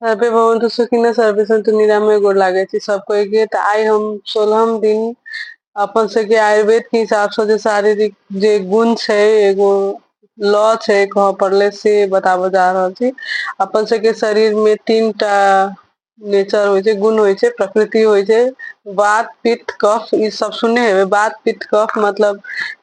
survey भवन्तु सुखिन सर्वे सन्तु निरामय गोर लागे छी सब कोई के तऽ आइ हम सोलहम दिन अपन सबके आयुर्वेद के हिसाब से जे शारीरिक जे गुण छै एगो लॉ छै कह पड़ले से बताबऽ जा रहल छी अपन सबके शरीर में तीन टा नेचर होइ छै गुण होइ छै प्रकृति होइ छै वात पित्त कफ ई सब सुनने हेबै वात पित्त कफ मतलब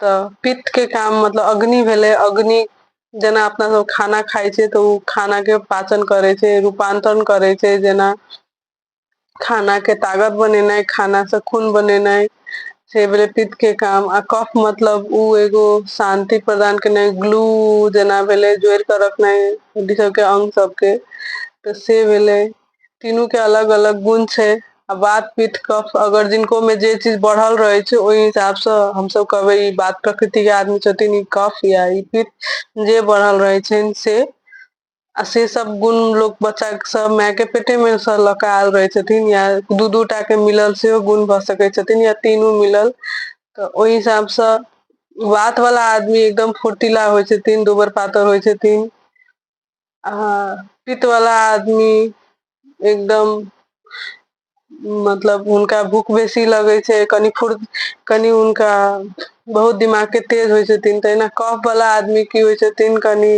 तऽ पित्त के काम मतलब अग्नि भेलै अग्नि जेना अपना सब खाना खाइ छै तऽ ओ खाना के पाचन करै छै रूपान्तरण करै छै जेना खाना के तागत बनेनाइ खाना से खून बनेनाइ से भेलै पित्त के काम आ कफ मतलब ओ एगो शान्ति प्रदान केनाइ ग्लू जेना भेलै जोड़ कऽ रखनाइ हड्डी सबके अंग सबके तऽ से भेलै तीनू के अलग अलग गुण छै आ बात पीत कफ अगर जिनको में जे चीज बढ़ल रहे छै ओहि हिसाब से हम सब कहबे ई बात प्रकृति के आदमी छथिन ई कफ या ई पीत जे बढ़ल रहे छनि से आ से सब गुण लोक बच्चा सब माय के पेटे में से लऽ कऽ आयल रहै छथिन या दू दू टा के मिलल सेहो गुण भऽ सकै छथिन या तीनू मिलल तऽ ओहि हिसाब से वात वाला आदमी एकदम फुर्तीला होइ छथिन दुबर पातर होइ छथिन हँ पित्त वला आदमी एकदम मतलब हुनका भूख बेसी लगै छै कनि फुर कनि हुनका बहुत दिमाग के तेज होइ छथिन तहिना कफ वला आदमी की होइ छथिन कनि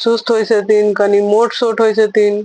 सुस्त होइ छथिन कनि मोट सोट होइ छथिन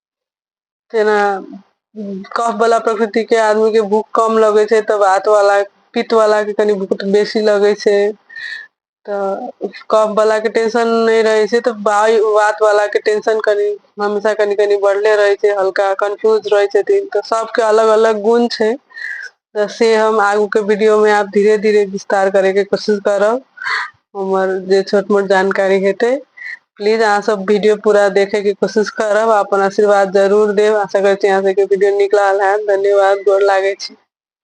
तेना कफ वाला प्रकृति के आदमी के भूख कम लगे छै तऽ वात वाला पित्त वाला के कनि भूख बेसी लगे छै तऽ कफ वाला के टेंशन नहीं रहे छै तऽ वायु वात वाला के टेंशन कनि हमेशा कनि कनि बढ़ले रहे छै हल्का कंफ्यूज रहे छथिन तऽ सबके अलग अलग गुण छै त से हम आगू के वीडियो में आब धीरे धीरे विस्तार करे के कोशिश करब हमर जे छोट मोट जानकारी हेते प्लीज अहाँ सब वीडियो पूरा देखे के कोशिश करब अपन आशीर्वाद जरूर देब आशा करे छी अहाँ सबके वीडियो नीक लागल है धन्यवाद गोर लागे छी